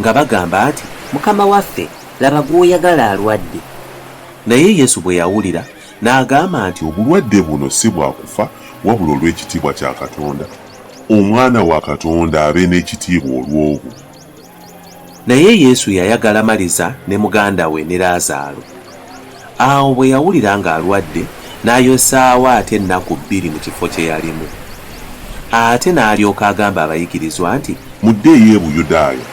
Nga bagamba nti, Mukama waffe, laba gw'oyagala alwadde. Naye Yesu bwe yawulira, n'agamba nti. Obulwadde buno si bwa kufa, wabula olw'ekitiibwa kya Katonda, Omwana wa Katonda abe n'ekitiibwa olw'obwo. Naye Yesu yayagala Maliza ne muganda we ne Laazaalo. Awo bwe yawulira ng'alwadde, n'ayosaawo ate ennaku bbiri mu kifo kye yalimu. Ate n'alyoka agamba abayigirizwa nti. Muddeeyo e Buyudaaya.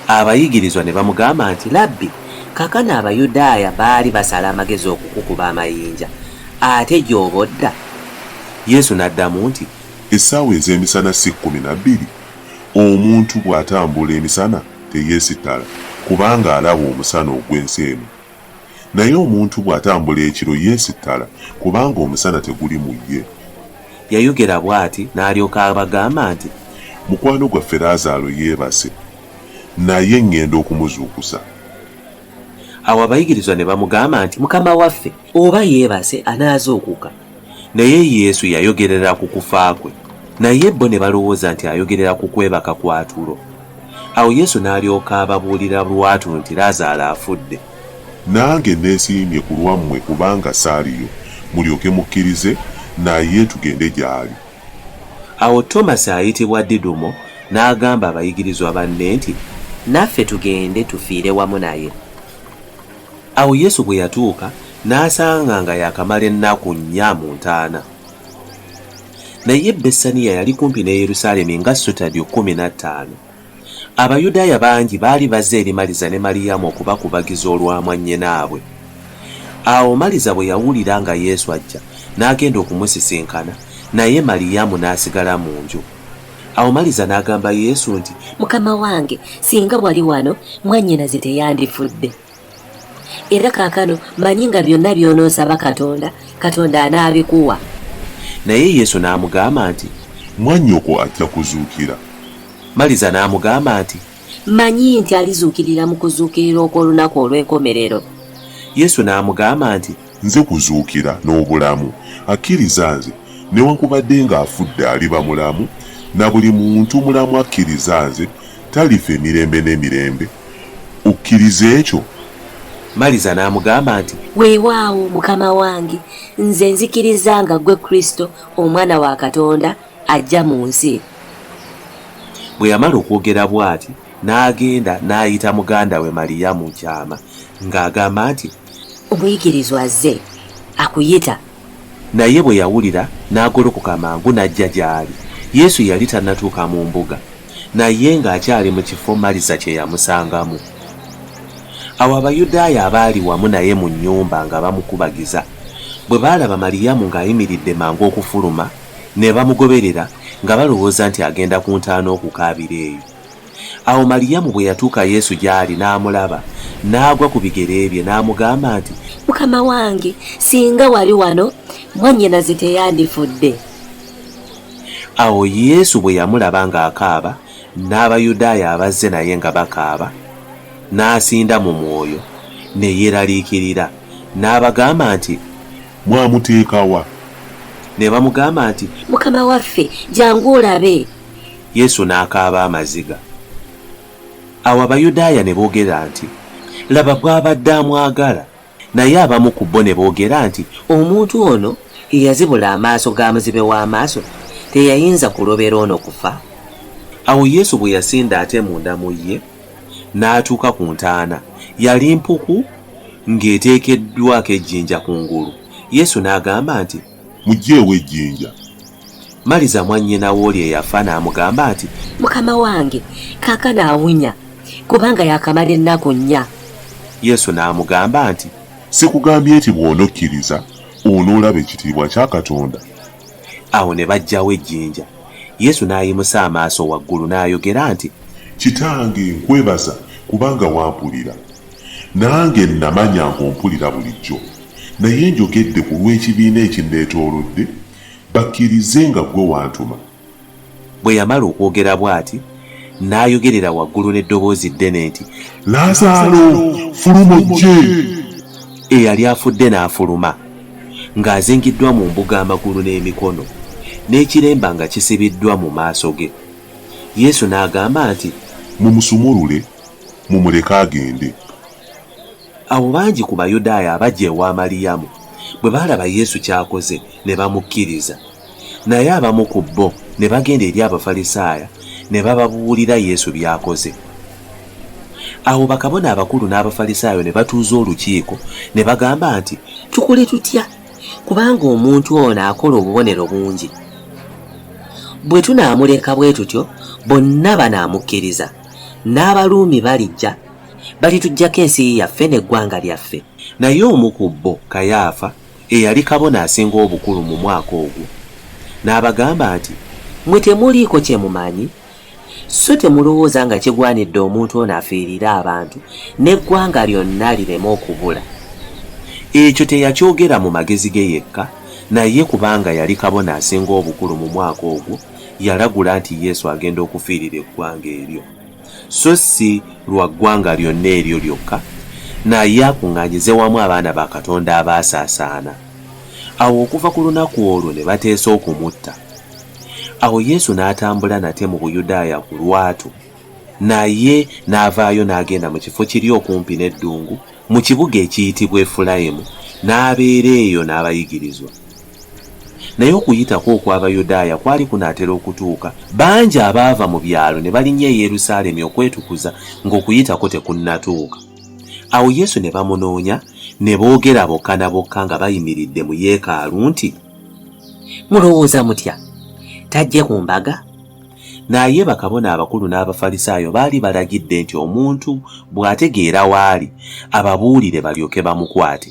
Abayigirizwa ne bamugamba nti, Labbi, kaakano Abayudaaya baali basala amagezi okukukuba amayinja, ate gy'oba odda? Yesu n'addamu nti. Essaawa ez'emisana si kkumi na bbiri? Omuntu bw'atambula emisana teyeesittala, kubanga alaba omusana ogw'ensi eno. Naye omuntu bw'atambula ekiro yeesittala, kubanga omusana teguli mu ye. Yayogera bw'ati, n'alyoka abagamba nti. Mukwano gwaffe Laazaalo yeebase, naye ŋŋenda okumuzuukusa. Awo abayigirizwa ne bamugamba nti, Mukama waffe, oba yeebase, anaazuukuka. Naye Yesu yayogerera ku kufa kwe, naye bo ne balowooza nti ayogerera ku kwebaka kwa tulo. Awo Yesu n'alyoka ababuulira lwatu nti, Lazaalo afudde. Nange nneesiimye ku lwammwe kubanga saaliyo, mulyoke mukkirize, naye tugende gy'ali. Awo Tomasi ayitibwa Didumo n'agamba abayigirizwa banne nti. Naffe tugende tufiire wamu naye. Awo Yesu bwe yatuuka, n'asanga nga yaakamala ennaku nnya mu ntaana. Naye Bessaniya yali kumpi ne Yerusaalemi nga sutadyo kkumi na ttaano. Abayudaaya bangi baali bazze eri Maliza ne Maliyamu okubakubagiza olwa mwannyinaabwe. Awo Maliza bwe yawulira nga Yesu ajja, n'agenda okumusisinkana, naye Maliyamu n'asigala mu nju. Awo Maliza n'agamba Yesu nti, Mukama wange, singa wali wano, mwannyinaze teyandifudde. Era kaakano manyi nga byonna by'onoosaba Katonda, Katonda anaabikuwa. Naye Yesu n'amugamba nti, Mwannyoko ajja kuzuukira. Maliza n'amugamba nti, Manyi nti alizuukirira mu kuzuukirira okw'olunaku olw'enkomerero. Yesu n'amugamba nti, Nze kuzuukira n'obulamu. Akkiriza Nze, newankubadde nga afudde aliba mulamu, na buli muntu mulamu akkiriza Nze talifa emirembe n'emirembe. Okkiriza ekyo? Maliza n'amugamba nti. Weewaawo, Mukama wange, nze nzikiriza nga Ggwe Kristo, Omwana wa Katonda, ajja mu nsi. Bwe yamala okwogera bw'ati, n'agenda n'ayita muganda we Maliyamu mu kyama, nga agamba nti. Omuyigirizwa azze akuyita. Naye bwe yawulira, n'agolokoka mangu n'ajja gy'ali. Yesu yali tannatuuka mu mbuga, naye ng'akyali mu kifo Maliza kye yamusangamu. Awo Abayudaaya abaali wamu naye mu nnyumba nga bamukubagiza, bwe baalaba Maliyamu ng'ayimiridde mangu okufuluma, ne bamugoberera, nga balowooza nti agenda ku ntaana okukaabira eyo. Awo Maliyamu bwe yatuuka Yesu gy'ali n'amulaba, n'agwa ku bigere bye, n'amugamba nti. Mukama wange, singa wali wano, mwannyinaze teyandifudde. Awo Yesu bwe yamulaba ng'akaaba, n'Abayudaaya abazze naye nga bakaaba, n'asinda mu mwoyo, ne yeeraliikirira, n'abagamba nti. Mwamuteeka wa? Ne bamugamba nti. Mukama waffe, jangu olabe. Yesu n'akaaba amaziga. Awo Abayudaaya ne boogera nti, Laba bw'abadde amwagala! Naye abamu ku bo ne boogera nti, Omuntu ono eyazibula amaaso ga muzibe w'amaaso teyayinza kulobera ono kufa? Awo Yesu bwe yasinda ate munda mu ye, n'atuuka ku ntaana. Yali mpuku ng'eteekeddwako ejjinja ku ngulu. Yesu n'agamba nti, mugyeewo ejjinja. Maliza mwannyina w'oli eyafa n'amugamba nti. Mukama wange, kaakano awunya, kubanga yaakamala ennaku nnya. Yesu n'amugamba nti. Sikugambye nti bw'onokkiriza onoolaba ekitiibwa kya Katonda? Awo ne baggyawo ejjinja. Yesu n'ayimusa amaaso waggulu n'ayogera nti. Kitange, nkwebaza kubanga wampulira. Nange nnamanya ng'ompulira bulijjo, naye njogedde ku lw'ekibiina ekinneetoolodde, bakkirize nga ggwe wantuma. Bwe yamala okwogera bw'ati, n'ayogerera waggulu n'eddoboozi ddene nti. Laazaalo, fuluma ojje! Eyali afudde n'afuluma, ng'azingiddwa mu mbugo amagulu n'emikono, n'ekiremba nga kisibiddwa mu maaso ge. Yesu n'agamba nti. Mumusumulule! Mumuleke agende. Awo bangi ku Bayudaaya abajja ewa Maliyamu bwe baalaba Yesu ky'akoze, ne bamukkiriza. Naye abamu ku bo ne bagenda eri Abafalisaayo ne bababuulira Yesu by'akoze. Awo bakabona abakulu n'Abafalisaayo ne batuuza olukiiko, ne bagamba nti. Tukole tutya? Kubanga omuntu ono akola obubonero bungi. Bwe tunaamuleka bwe tutyo, bonna banaamukkiriza. n'abaruumi balijja balituggyako ensi yaffe n'eggwanga lyaffe. Naye omu ku bo, Kayaafa, eyali kabona asinga obukulu mu mwaka ogwo, n'abagamba nti, Mmwe temuliiko kye mumanyi, sso temulowooza nga kigwanidde omuntu ono afiirire abantu, n'eggwanga lyonna lireme okubula. Ekyo teyakyogera mu magezi ge yekka, naye kubanga yali kabona asinga obukulu mu mwaka ogwo, yalagula nti Yesu agenda okufiirira eggwanga eryo, so si lwa ggwanga lyonna eryo lyokka, naye akuŋŋaanyize wamu abaana ba Katonda abaasaasaana. Awo okuva ku lunaku olwo ne bateesa okumutta. Awo Yesu n'atambula nate mu Buyudaaya ku lwatu, naye n'avaayo n'agenda mu kifo kiri okumpi n'eddungu mu kibuga ekiyitibwa Efulayimu, n'abeera eyo n'abayigirizwa. Naye Okuyitako okw'Abayudaaya kwali kunaatera okutuuka. Bangi abaava mu byalo ne balinnya e Yerusaalemi okwetukuza ng'Okuyitako tekunnatuuka. Awo Yesu ne bamunoonya, ne boogera bokka na bokka nga bayimiridde mu yeekaalu nti. Mulowooza mutya? Tajje ku mbaga? Naye bakabona abakulu n'Abafalisaayo baali balagidde nti omuntu bw'ategeera w'ali, ababuulire balyoke bamukwate.